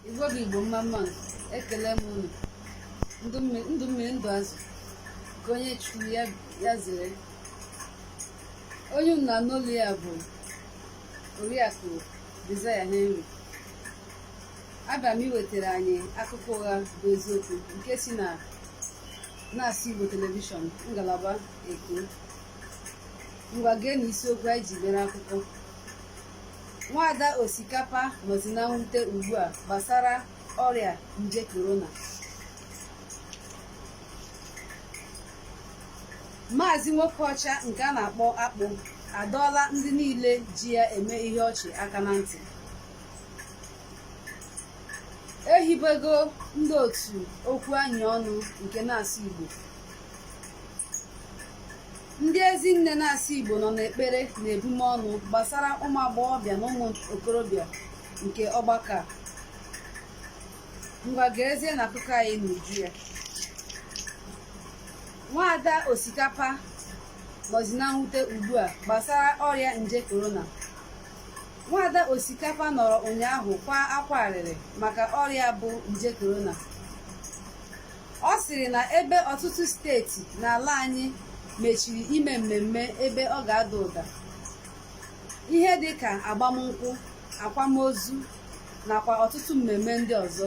igbo bụ igbo mma mma ekele m unu ndụ mmiri ndụ azụ ka onye chọrọ ya zere onye unu na-anụ olu ya bụ oriakụ Desire Henry abịa m iwetara anyị akụkọ ụgha bụ eziokwu nke si na na-asụ Igbo telivishọn ngalaba Eko ngwa geenụ isiokwu anyị ji mere akụkọ Nwaada Osikapa nọzi na mwute ugbu a gbasara ọrịa nje korona. Maazị Nwokeọcha nke a na-akpọ Akpụ adọọla ndị niile ji ya eme ihe ọchị aka na ntị. Ehibego ndị otu okwu anyị ọnụ nke na-asụ Igbo. ndị ezi nne na-asụ igbo nọ n'ekpere na ebumọnụ gbasara ụmụ agbọghọbịa na ụmụ okorobịa nke ọgbakọ a ngwa geezienụ akụkọ anyị n'uju ya nwaada osikapa nọzi na mwute ugbu a gbasara ọrịa nje korona nwaada osikapa nọrọ ụnyaahụ kwaa akwa arịrị maka ọrịa bụ nje korona Ọ sịrị na ebe ọtụtụ steeti n'ala anyị mechiri ime mmemme ebe ọ ga-ada ụda, ihe dị ka agbamnkwụ, akwamozu nakwa ọtụtụ mmemme ndị ọzọ,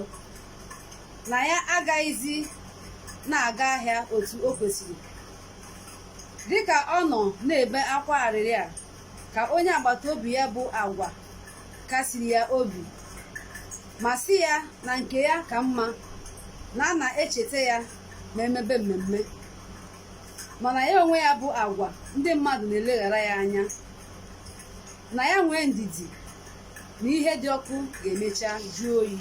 na ya agaghịzi na-aga ahịa otu o kwesịrị. Dịka ọ nọ na-ebe akwa arịrị a ka onye agbata obi ya bụ agwa kasiri ya obi ma sị ya na nke ya ka mma na a na-echeta ya ma e mebe mmemme mana ya onwe ya bụ agwa ndị mmadụ na-eleghara ya anya na ya nwee ndidi na ihe dị ọkụ ga-emecha jụọ oyi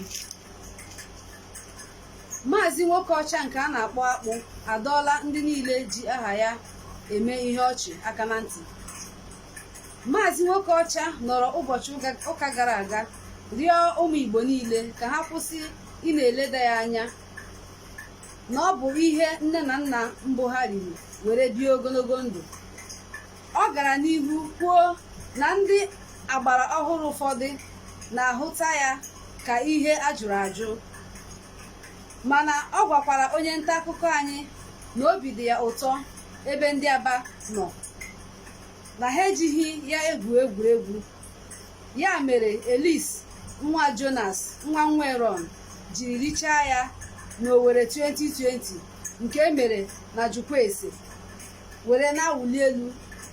Maazị nwoke ọcha nke a na-akpọ akpụ adọọla ndị niile ji aha ya eme ihe ọchị aka na ntị Maazị nwoke ọcha nọrọ ụbọchị ụka gara aga rịọ ụmụ Igbo niile ka ha kwụsị ị na-eleda ya anya na ọ bụ ihe nne na nna mbụ ha riri were bie ogologo ndụ Ọ gara n'ihu kwuo na ndị agbara ọhụrụ ụfọdụ na-ahụta ya ka ihe a jụrụ ajụ mana ọ gwakwara onye nta akụkọ anyị na obi dị ya ụtọ ebe ndị Aba nọ na ha ejighị ya egwu egwuregwu ya mere Elis nwa Jonas nwa Nweron jiri richaa ya n'Owerri 2020 nke e mere na Jụkwaese were na-awụli elu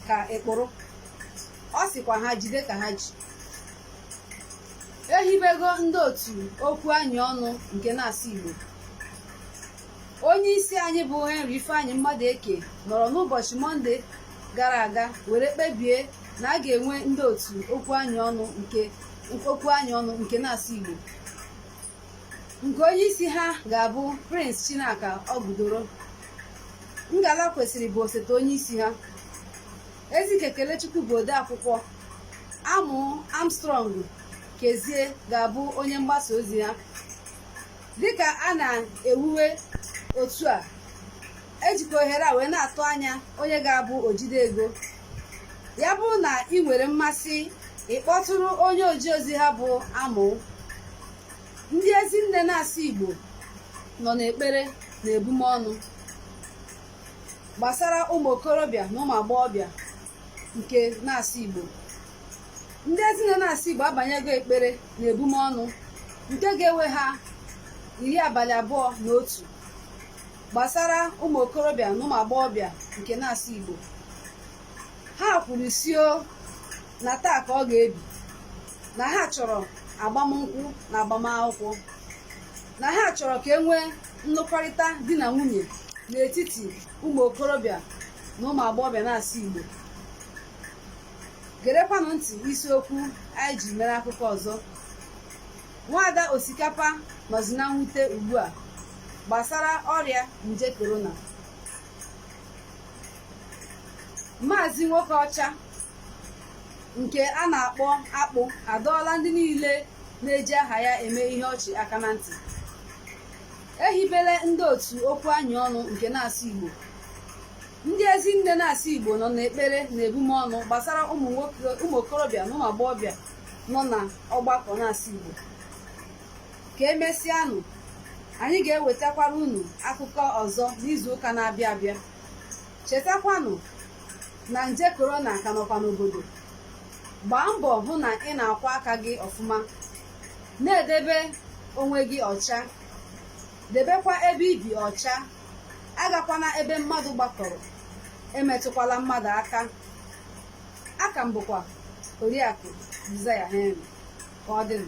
ka ekporo ọ sịkwa ha jide ka ha ji ehibego ndị otu okwu anyị ọnụ nke na-asụ Igbo onye isi anyị bụ Henry Ifeanyi Mmadụeke nọrọ n'ụbọchị mọnde gara aga were kpebie na a ga-enwe ndị otu okwu anyị ọnụ nke na-asụ Igbo nke onye isi ha ga-abụ Prince Chinaka Ogudoro Ngala Kwesịrị bụ osote onye isi ha Ezike Kelechukwu bụ odeakwụkwọ Amụ Armstrong Kezie ga-abụ onye mgbasa ozi ha dịka a na-ewuwe otu a e jikwa ohere a wee na-atụ anya onye ga-abụ ojide ego ya bụrụ na i nwere mmasị ị kpọtụrụ onye oji ozi ha bụ Amụ ndị ezi nne na-asụ Igbo nọ n'ekpere na ebumọnụ gbasara ụmụ okorobịa na ụmụ agbọghọbịa nke na-asụ Igbo ndị ezi nne na-asụ Igbo abanyego ekpere na ebumọnụ nke ga-ewe ha iri abalị abụọ na otu gbasara ụmụ okorobịa na ụmụ agbọghọbịa nke na-asụ Igbo ha kwuru sị na taa ka ọ ga-ebi na ha chọrọ agbamnkwụ na agbamakwụkwọ na ha chọrọ ka e nwee nlụkọrịta di na nwunye n'etiti ụmụ okorobịa na ụmụ agbọghọbịa na-asụ Igbo gerekwanụ ntị isiokwu anyị ji mere akụkọ ọzọ nwaada osikapa nọzị na mwute ugbu a gbasara ọrịa nje korona maazị nwoke ọcha nke a na-akpọ akpụ adọọla ndị niile na-eji aha ya eme ihe ọchị aka na ntị ehibela ndị otu okwu anyị ọnụ nke na-asụ Igbo ndị ezi nne na-asụ Igbo nọ n'ekpere na ebume ọnụ gbasara ụmụ okorobịa na ụmụ agbọghọbịa nọ na ọgbakọ na-asụ Igbo ka emesịanụ anyị ga-ewetakwara unu akụkọ ọzọ n'izu ụka na-abịa abịa chetakwanụ na nje korona ka nọkwa n'obodo gbaa mbọ hụ na ị na-akwọ aka gị ọfụma na-edebe onwe gị ọcha debekwa ebe i bi ọcha agakwana ebe mmadụ gbakọrọ emetụkwala mmadụ aka a ka m bụkwa oriakụ Desire Henry ka ọ dịnụ